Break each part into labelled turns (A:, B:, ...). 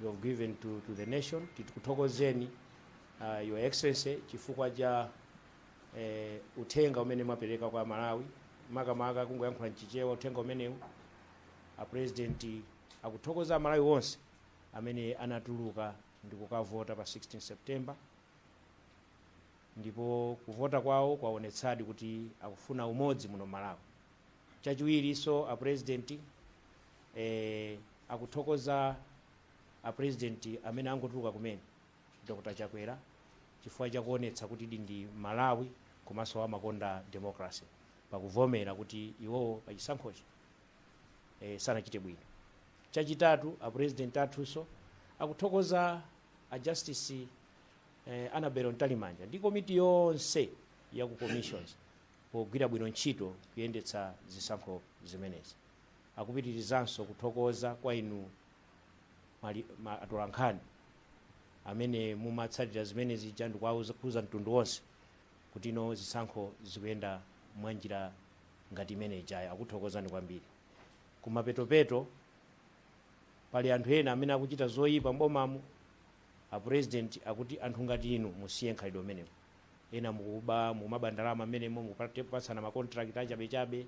A: you have given to, to the nation tikuthokozeni uh, your excellency chifukwa cha eh, uthenga umene mwapereka kwa amalawi makamaka kungoyankhula mchichewa uthenga umenewu a president akuthokoza amalawi onse amene anatuluka ndi kukavota pa 16 september ndipo kuvota kwawo kwaonetsadi kuti akufuna umodzi muno malawi Chachiwirinso a president eh, akuthokoza a president amene angotuluka kumene Dr. Chakwera chifukwa chakuonetsa kuti ndi m'Malawi komanso amakonda democracy pakuvomera kuti iwowo pachisankhochi eh, sanachite bwino. Chachitatu a president athunso akuthokoza a justice eh, Annabel Mtalimanja ndi komiti yonse ya ku commissions pogwira bwino ntchito kuyendetsa zisankho zimenezi. Akupitirizanso kuthokoza kwa inu mali, ma, atolankhani amene mumatsatira zimene zija ndikuwauza mtundu wonse kuti no zisankho zikuyenda mwa njira ngati imene ijayo. Akuthokozani kwambiri. Kumapetopeto pali anthu ena amene akuchita zoyipa m'bomamo, a president akuti anthu ngati inu musiye mkhalidwe umenewu. ena mukuba mumaba ndalama mmenemo mukupatsana ma contract achabechabe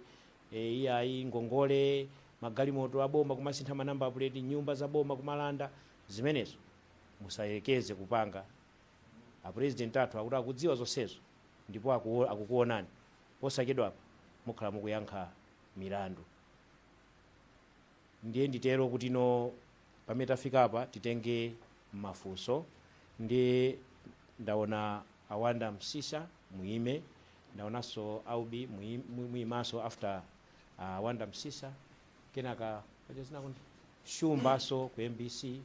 A: e, iyayi ngongole magalimoto aboma kumasintha manamba pleti nyumba za boma kumalanda zimenezo musayekeze kupanga apurezidenti athu akuti akudziwa zonsezo ndipo akuo- akukuonani posachedwapa mukhala mukuyankha milandu ndiye nditero kuti no Pamene tafika apa titenge mafunso ndiye ndaona a Wonder Msiska muime, ndaonanso Aubi muim- muimanso after a Wonder Msiska kenaka paja dzina kuti Shumbanso ku MBC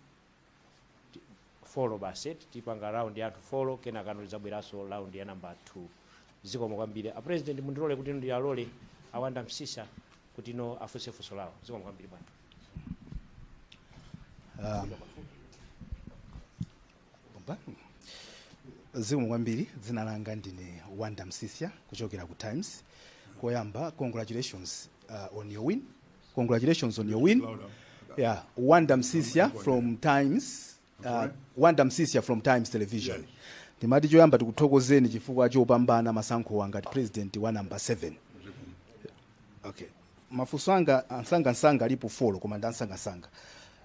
A: ti- folo basi eti tipanga round ya anthu folo kenaka tidzabweranso round ya namba 2 zikomo kwambiri a president mundilole kuti ndiwalole a Wonder Msiska kuti no afunse funso lawo zikomo kwambiri bwana
B: zikomo kwambiri dzina langa ndine wonder msiska kuchokera ku times koyamba congratulations uh, on your win congratulations on your win yeah wonder msiska from times uh, wonder msiska from times television ndimati choyamba tikuthokozeni chifukwa chopambana masankhowa ngati president wa namba 7 okay mafunso anga amsangamsanga alipo folo koma ndi amsangamsanga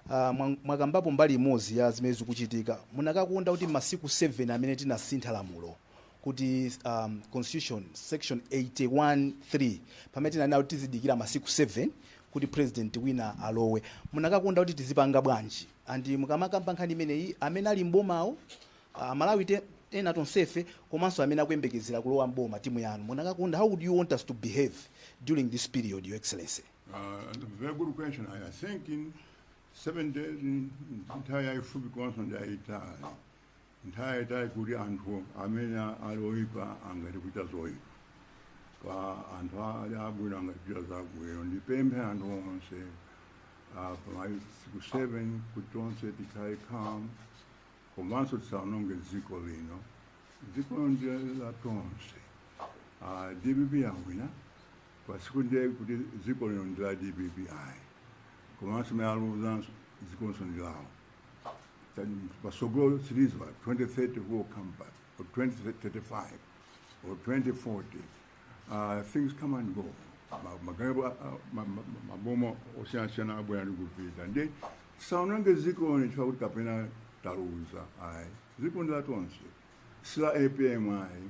B: uh, mwa- mwakambapo mbali imodzi ya zimene zikuchitika munakakonda kuti masiku 7 amene tinasintha lamulo kuti um, constitution section 813 pamene tinanena kuti tizidikira masiku 7 kuti president wina alowe munakakonda kuti tizipanga bwanji And mukamakamba nkhani imeneyi amene ali m'bomawo aMalawi ife, ena tonsefe komanso amene akuyembekezera kulowa m'boma timu yanu munakakonda how would you want us to behave during this period your excellency Uh, very
C: good question. I, I think in seven days, ndi, ndi nthawi yaifupi komanso, I, uh, nthawi yatali kuti anthu amene ali oyipa angati kuchita zoipa pa anthu ali abwino angati kuchita zabwino ndipemphe anthu onse ah, pa masiku 7 kuti tonse tikhale calm komanso tisaononge dziko lino dziko lino ndi la tonse Ah, DPP yawina pasiku ndiye kuti dziko lino ndi la DPP ayi komanso amene aluzanso dzikonso ndi lawo Then patsogolo there is always 2030 we will come back, or 2035, or 2040. Uh, things come and go. Ma- maganizo, uh, uh, ma- ma- ma- maboma osiyana-siyana abwera ndi kupita nde tisaononge dziko lino chifukwa kuti kapena taluza ayi dziko ndi la tonse si la APM ayi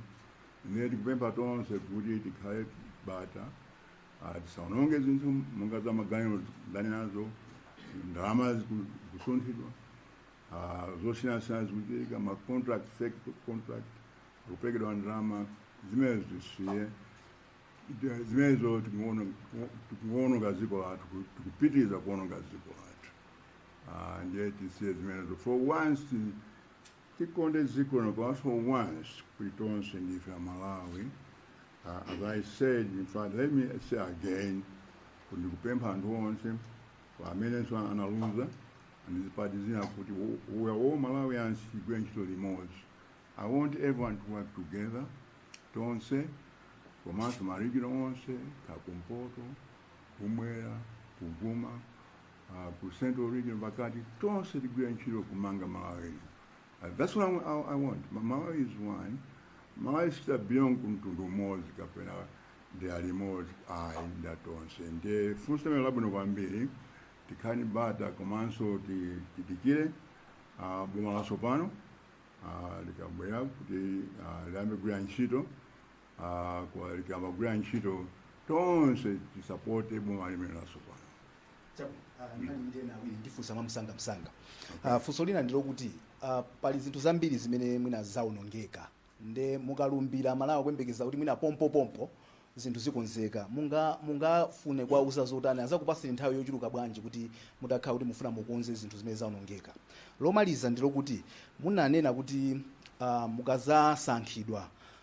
C: nde tikupempha tonse kuti tikhale bata Ah, tisaononge zinthu monga za maganizo ndinanenazo ndalama ziku- zikusunthidwa ah, zosiyanasiyana zikuchitika ma contract fake contract akupekedwa ndalama zimenezo tisiye Ndi- zimenezo tikuono- tikuononga dziko lathu ku- tikupitiriza kuononga dziko lathu Ah, ndiye tisiye zimenezo for once ti- Tikonde dziko lino for once kuti tonse ndife aMalawi uh, as i said in fact let me say again kuti ndikupempha anthu onse amenenso analuza andi zipani zina kuti we are all Malawians tigwire ntchito limodzi i want everyone to work together tonse komanso ma region onse kaya kumpoto kumwera kum'mawa uh, ku central region pakati tonse tigwire ntchito kumanga Malawi uh, that's what I, I, I want Ma- Malawi is one Malawi sapanga belong kumtundu umodzi kapena dera limodzi ayi ndwa tonse ndi funso limene labwino kwambiri tikhale bata komanso ti- tidikire uh, boma latsopano uh, likabwera kuti uh, liyambe kugwira ntchito Ah, koma likayamba kugwira ntchito tonse tisapote boma limene
B: latsopano ndifunsa mwamsanga msanga Ah, funso lina ndilo kuti ah, pali zinthu zambiri zimene mwina zaonongeka nde mukalumbira aMalawi akuyembekeza kuti mwina pompopompo zinthu zikonzeka munga mungafune kuwauza zotani azakupaseni nthawi yochuluka bwanji kuti mutakhala kuti mufuna mukonze zinthu zimene zaonongeka lomaliza ndilo kuti munanena kuti ah, mukadzasankhidwa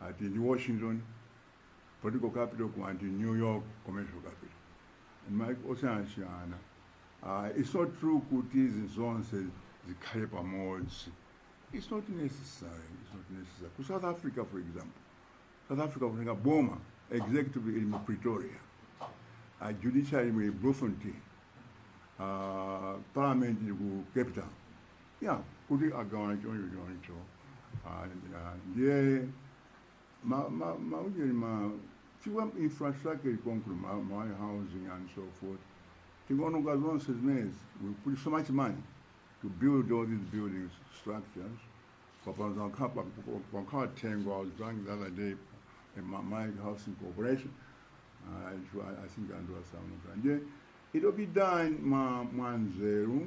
C: ati ndi Washington political capital kunali new york commercial capital maiko osiyanasiyana uh, it's not true kuti zinthu zonse zikhale pamodzi it's not necessary it's not necessary ku south africa for example south africa kunena boma executive ili mu pretoria uh, judiciary ili mu bloemfontein uh, parliament ili ku cape town ya kuti agawana choncho choncho Ah, ah, ndiye ma- ma- maujeni ma chifukwa infrastructure ilikonkuno ma, ma housing and so forth tingoononga zonse zimenezi we put so much money to build all these buildings structures papanza wakhapa wakhala thengo i was drunk the other day in ma, ma housing corporation uh, it wa- i think andiwasamuka ndiye it'll be done mwa mwa nzeru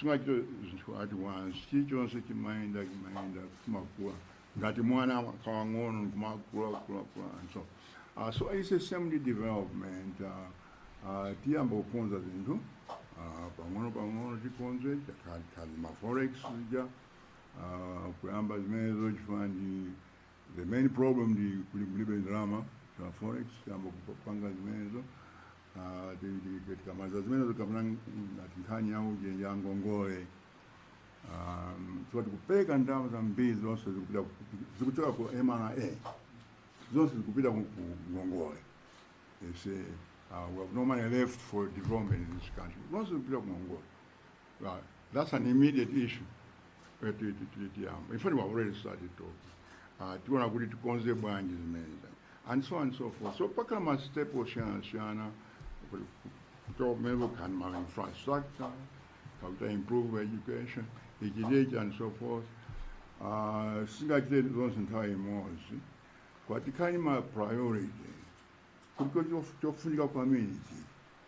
C: sungachite zinthu ati wansi chilichonse chimayenda chimayenda chimakula ngati mwana kakang'ono kumakulakulakula so uh, so it's a same development uh, uh, tiyamba kukonza zinthu uh, pang'ono pang'ono tikonze chakhalikhali ma forex zija uh, kuyamba zimenezo chifukwa ndi the main problem ndi kuti kulibe ndalama za forex tiyamba kupanga zimenezo Ah, ti- ti- ti- tikamaliza zimenezo tikamba ngati nkhani ya ujeni ya ngongole Um, so tikupeza ndalama zambiri zonse zikupita ku- zikuchoka ku mra zonse zikupita ku ku ngongole they say uh, we have no money left for development in this country zonse zikupita ku ngongole Uh, that's an immediate issue eh, ti- ti- ti- tiyamba in fact we have already started talking uh, tiona kuti tikonze bwanji zimenezo and so on and so forth so pakhala ma step osiyanasiyana kuti kuchoka kumene kukhale ma infrastructure how to improve education ichi ndi ichi and so forth uh, sungachite zonse nthawi imodzi koma tikhale ma priority kuti chofunika kwambiri n'chii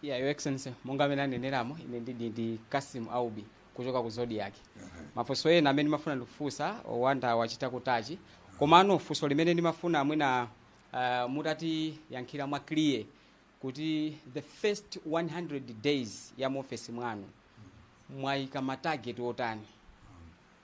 D: Yeah, Your Excellency, monga mmene aneneramo ine ndidi ndi Kasim Aubi kuchoka ku Zodiak. Mafunso ena amene ndimafuna ndikufunseni a Wanda wachita kutachi komano funso limene ndimafuna mwina uh, mutatiyankhira mwa clear kuti the first 100 days ya mu office mwanu mwaika ma target otani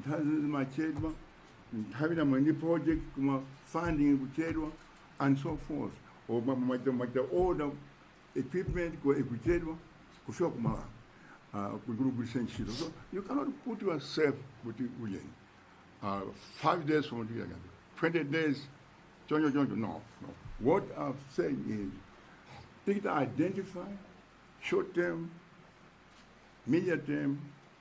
C: nthawi zina zimachedwa nthawi ya mwina project kapena funding kuchedwa and so forth maja order equipment koma ikuchedwa kufika ku malawi uh, kugulugulisa ntchito so you cannot put yourself kuti ujeni uh, five days from today 20 days choncho choncho no no what i'm saying is pick to identify short term medium term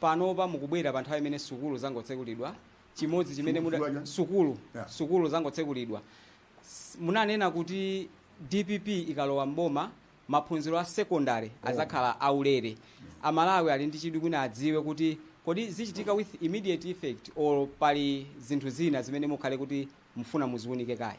D: panopa mukubwera pa nthawi imene sukulu zangotsekulidwa chimodzi chimene Sukulu muda- chani? sukulu Yeah. sukulu zangotsekulidwa S- munanena kuti dpp ikalowa mboma maphunziro a secondary azakhala aulere amalawi ali ndi chidwi mwina adziwe kuti kodi zichitika with immediate effect or pali zinthu zina zimene mukhale kuti mufuna muziunike kaye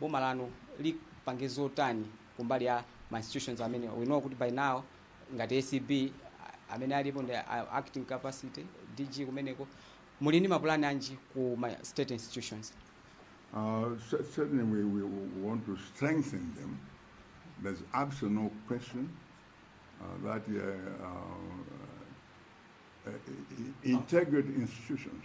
D: boma lanu lipange zotani kumbali ya ma institutions amenewa we know kuti by now ngati acb a- amene alipo ndi a- acting capacity dg kumeneko muli ndi mapulani anji ku ma state institutions
C: Uh, cer- certainly, we, we w- want
D: to
C: strengthen them. There's absolutely no question uh, that uh, uh, uh, i- i- integrity institutions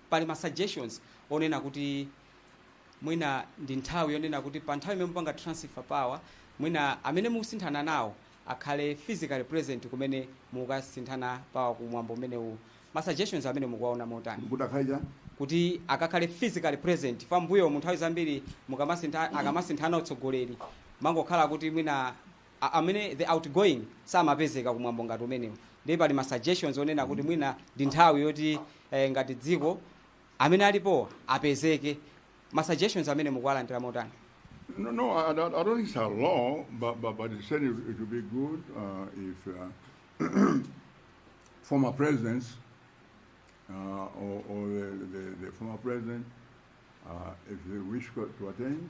D: Pali ma suggestions onena kuti mwina ndi nthawi yonena kuti pa nthawi imene mupanga transfer power mwina amene mukusinthana nawo akhale physically present kumene mukasinthana power ku mwambo umenewu. Ma suggestions amenewo mukuwaona motani? Kuti akhale chani? Kuti akakhale physically present chifukwa mmbuyomu nthawi zambiri mukamasintha, akamasinthana utsogoleri pamangokhala kuti mwina a amene the outgoing samapezeka ku mwambo ngati umenewu ndiye pali ma suggestions onena kuti mwina ndi nthawi yoti eh, ngati dziko amene alipowo apezeke ma suggestions amene mukuwalandira motani No, no, I, I
C: don't I don't think it's a law, but, but, but it's certainly it would be good uh, if uh, former presidents uh, or, or the, the, the former president, uh, if they wish to to attend,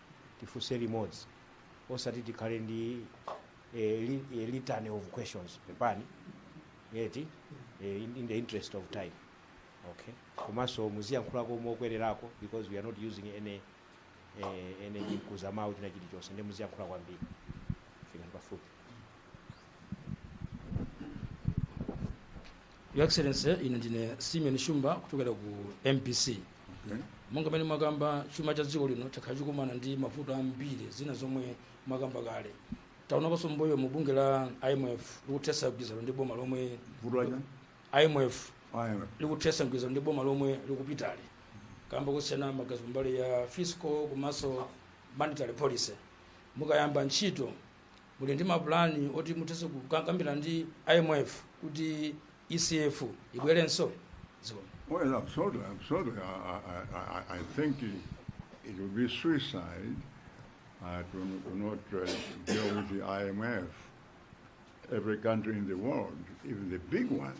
A: tifunse limodzi osati tikhale ndi eh, li, eh, litany of questions pepani eti eh, in, in the interest of time okay komanso muziyankhulako mokwererako because we are not using any eh, any mkuzamawu china chilichonse ndi muziyankhula kwambiri fikani pafupi
E: Your Excellency, ine ndine Simeon Shumba kuchokera ku MBC. Monga mmene mwakamba chuma cha dziko lino chakhala chikumana ndi mavuto ambiri zina zomwe mwakamba kale. Taonakonso mmbuyomu bungwe la IMF likuthetsa mgwirizano ndi boma lomwe Vuto la chani? IMF
C: Ayo. likuthetsa mgwirizano
E: ndi boma lomwe likupitali. Kamba kosiyana maganizo kumbali ya fiscal komanso monetary policy. Mukayamba ntchito muli ndi mapulani oti muthenso kukambirana ndi imf kuti ecf ibwerenso zikomo Well,
C: absolutely, absolutely. I, I, I- I, I think it, it would be suicide uh, to, n- to not uh, deal with the IMF. Every country in the world, even the big ones,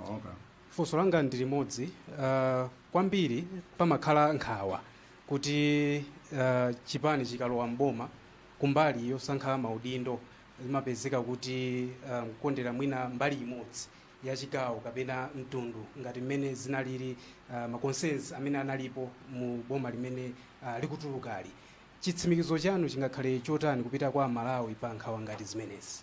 C: okay. funso langa
F: ndi limodzi uh, kwambiri pamakhala nkhawa kuti uh, chipani chikalowa mboma kumbali yosankha maudindo zimapezeka kuti uh, kukondera mwina mbali imodzi ya chigawo kapena mtundu ngati mmene zinalili uh, ma concerns amene analipo mu boma limene uh, likutulukali chitsimikizo chanu chingakhale chotani kupita kwa amalawi pa nkhawa ngati zimenezi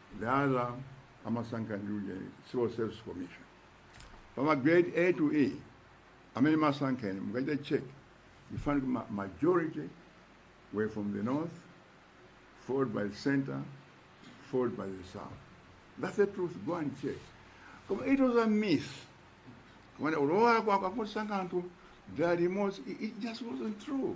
C: Dala amasankha ndi civil service commission pama grade a to e amene amasankha mukachita check you find ma majority were from the north followed by the center followed by the south that's the truth go and check koma it was a myth kumanena kuti wakwawo akusankha anthu dala limodzi it, it just wasn't true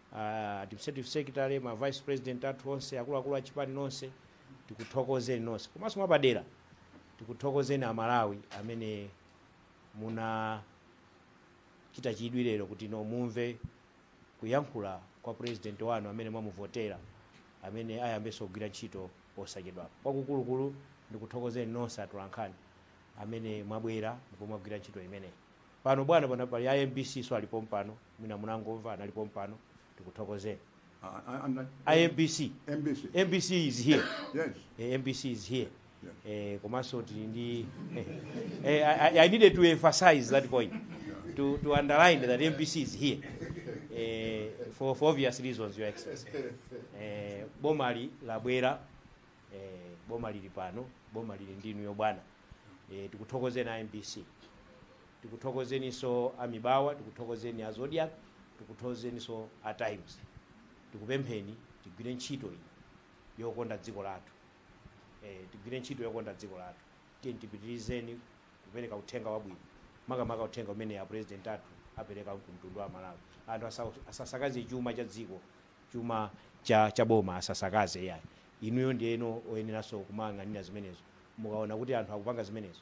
A: a administrative secretary ma vice president athu onse akuluakulu a chipani onse tikuthokozeni nonse komanso mwapadera tikuthokozeni amalawi amene munachita chidwi lero kuti mumve kuyankhula kwa president wanu amene mwamuvotera amene ayambenso kugwira ntchito posachedwapa kwakukulu ndikuthokozeni nonse atolankhani amene mwabwera ndipo mwagwira ntchito imeneyi pano bwana pano pali a mbc nso ali pompano mwina munangomva anali pompano tikuthokozeni I, I, I, mbc mbc mbc is here yes eh, mbc
C: is here
A: eh, komanso
C: tili ndi
A: eh, eh, I, I- i needed to emphasize that point to, to underline that mbc is here eh, for, for obvious reasons your excellency eh, boma ili labwera eh, boma lili pano boma lili ndinu inuyo bwana eh, tikuthokozeni a mbc tikuthokozeninso a mibawa tikuthokozeni a zodiak tikuthokozeninso a times tikupempheni tigwire ntchito iyi yokonda dziko lathu eh, tigwire ntchito yokonda dziko lathu tiyeni tipitirizeni kupereka uthenga wabwino makamaka uthenga umene a president athu apereka ku mtundu wa amalawi anthu asa- asasakaze chuma cha dziko chuma cha, cha boma asasakaze yayi inuyo ndiye oyeneranso kumayang'anira zimenezo mukaona kuti anthu akupanga zimenezo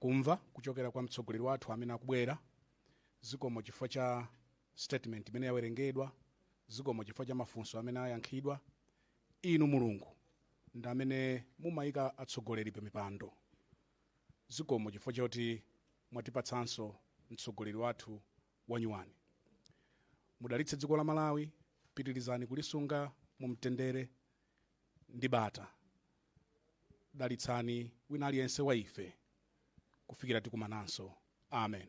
F: kumva kuchokera kwa mtsogoleri wathu amene akubwera zikomo chifukwa cha statement imene yawerengedwa zikomo chifukwa cha mafunso amene ayankhidwa inu mulungu ndi amene mumayika atsogoleri pa mipando zikomo chifukwa choti mwatipatsanso mtsogoleri wathu wanyuwani mudalitse dziko la malawi pitirizani kulisunga mu mtendere ndi bata. Dalitsani wina aliyense wa ife kufikira tikumananso. Amen.